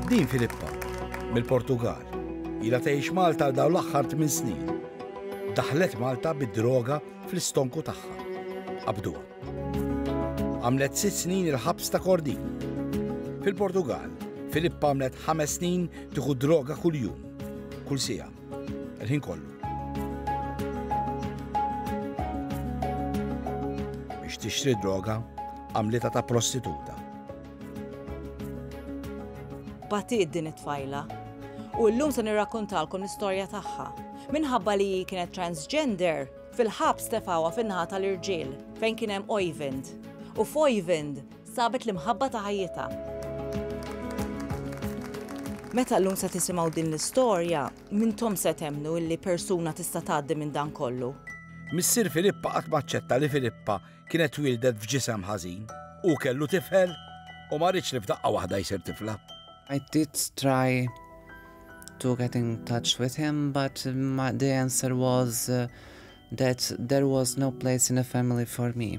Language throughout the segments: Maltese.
Dean Filippa, mill-Portugall, ilha tgħix Malta għal dawn l-aħħar tmien snin. Daħlet Malta bid-droga fl-istonku tagħha. Qabduha. Għamlet sitt snin il-ħabs ta' Kordin. Fil-Portugall, Filippa għamlet ħames snin tieħu droga kuljum, kull sija, il-ħin kollu. Biex tixtri droga, għamlita ta' prostituta. Batiet din it-tfajla u llum se nirrakkontalkom l-istorja tagħha. Minħabba li hi kienet transgender, fil-ħabs tefgħuha fin-naħa tal-irġiel fejn kien hemm Oyvind. U f'Oyvind sabet l-imħabba ta' ħajjitha. Meta llum se tisimgħu din l-istorja, mintom se temnu li persuna tista' tgħaddi minn dan kollu. Missier Filippa qatt ma aċċetta li Filippa kienet twieldet f'ġisem ħażin, hu kellu tifel u ma rridx li f'daqqa waħda jsir tifla. I did try to get in touch with him, but my, the answer was uh, that there was no place in the family for me,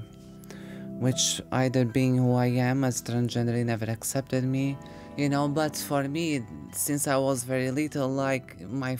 which either being who I am as transgender, he never accepted me, you know, but for me, since I was very little, like my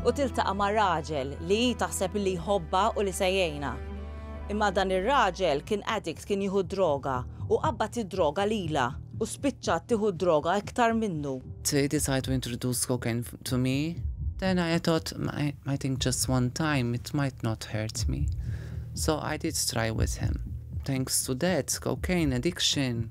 u tiltaqa' ma' raġel li hi taħseb illi jħobbha u li se jgħinha. Imma dan ir-raġel kien addict, kien jieħu d-droga u qabbad id-droga lilha u spiċċat tieħu d-droga iktar minnu. They decide to introduce cocaine to me, then I thought I think just one time it might not hurt me, so I did try with him. Thanks to that cocaine addiction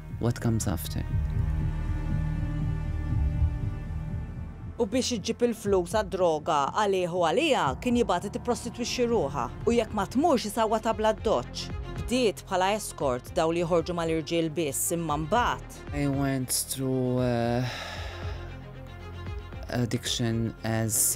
What comes after? U biex iġġib il-flus għad-droga għalih u għaliha, kien jibgħatha tipprostitwixxi ruħha. U jekk ma tmurx isawwatha bl-addoċċ. Bdiet bħala escort, dawn li joħorġu mal-irġiel biss, imma mbagħad. I went through addiction as.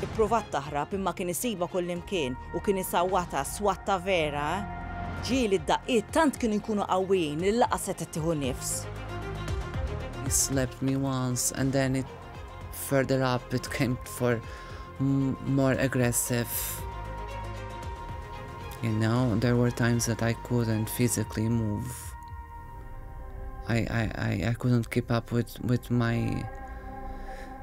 Ippruvat taħrab imma kien isibha kullimkien u kien isawwatha, swatta vera, eh! Ġieli id-daqqiet tant kienu jkunu qawwijin li laqas setgħet tieħu nifs. He slapped me once and then it further up it came for more aggressive. You know, there were times that I couldn't physically move. I, I, I, I couldn't keep up with, with my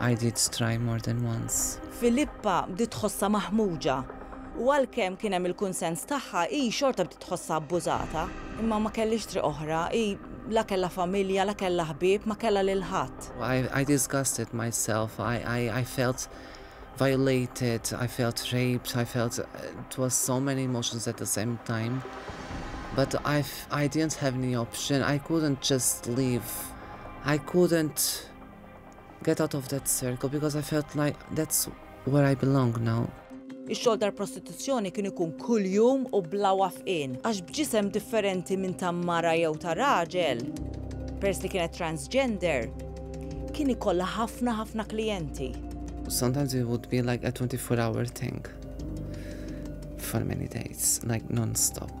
I did try more than once. Filippa bdiet tħossha maħmuġa u għalkemm kien hemm il-kunsens tagħha, hi xorta bdiet tħossha abbużata. Imma ma kellhiex triq oħra, hi la kellha familja, la kellha ħbieb, ma kellha lil ħadd. I disgusted myself, I felt violated, I felt raped, I felt it was so many emotions at the same time. But I didn't have any option, I couldn't just leave, I couldn't Get out of that circle because I felt like that's where I belong now. Ix-xogħol tal-prostituzzjoni kien ikun kuljum u bla wafqien għax b'ġisem differenti minn ta' mara jew ta' raġel, peress li kienet transgender, kien ikollha ħafna ħafna klijenti. Sometimes it would be like a 24 hour thing for many days, like non-stop.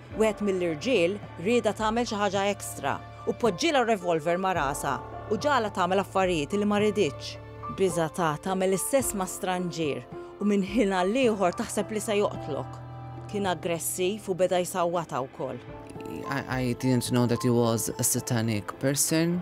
Wieħed mill-irġiel riedha tagħmel xi ħaġa extra u poġġielha r-revolver ma' rasha u ġagħalha tagħmel affarijiet li ma riditx. Biżgħatha tagħmel l-istess ma' stranġier u minn ħin għall-ieħor taħseb li se joqtlok. Kien aggressiv u beda jsawwatha wkoll. I didn't know that he was a satanic person.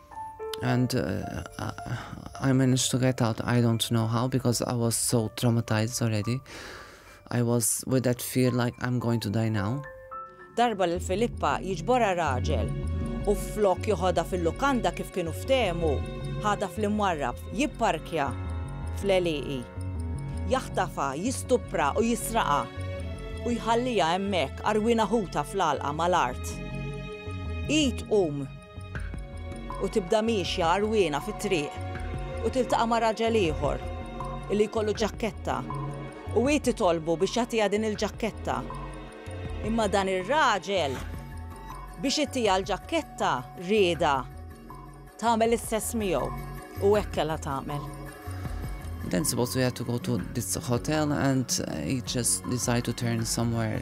And uh, I managed to get out. I don't know how because I was so traumatized already. I was with that fear like I'm going to die now. Darba l Filippa jiġbora raġel u flok joħodha fil-lukanda kif kienu ftehmu, ħada fl-imwarrab jipparkja fl-eliqi. Jaħtafa, jistupra u jisraqa u jħallija hemmhekk arwina ħuta fl-alqa mal-art. Id um U tibda miexja għarwiena fit-triq u tiltaqa' ma' raġel ieħor li jkollu ġakketta u hi titolbu biex jagħtiha din il-ġakketta. Imma dan ir-raġel biex itiha l-ġakketta riedha tagħmel l-istess miegħu u hekk kellha tagħmel. Then suppose we had to go to this hotel and he just decided to turn somewhere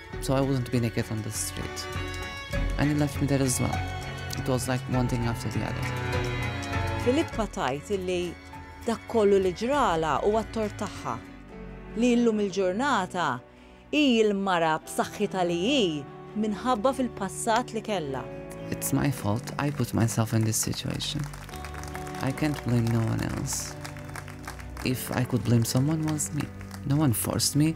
So I wouldn't be naked on the street. And he left me there as well. It was like one thing after the other. Filippa tajt illi dak kollu li ġrala u għattor tagħha li illum il-ġurnata hi l-mara b'saħħitha li hi minħabba fil-passat li kellha. It's my fault I put myself in this situation. I can't blame no one else. If I could blame someone was me. No one forced me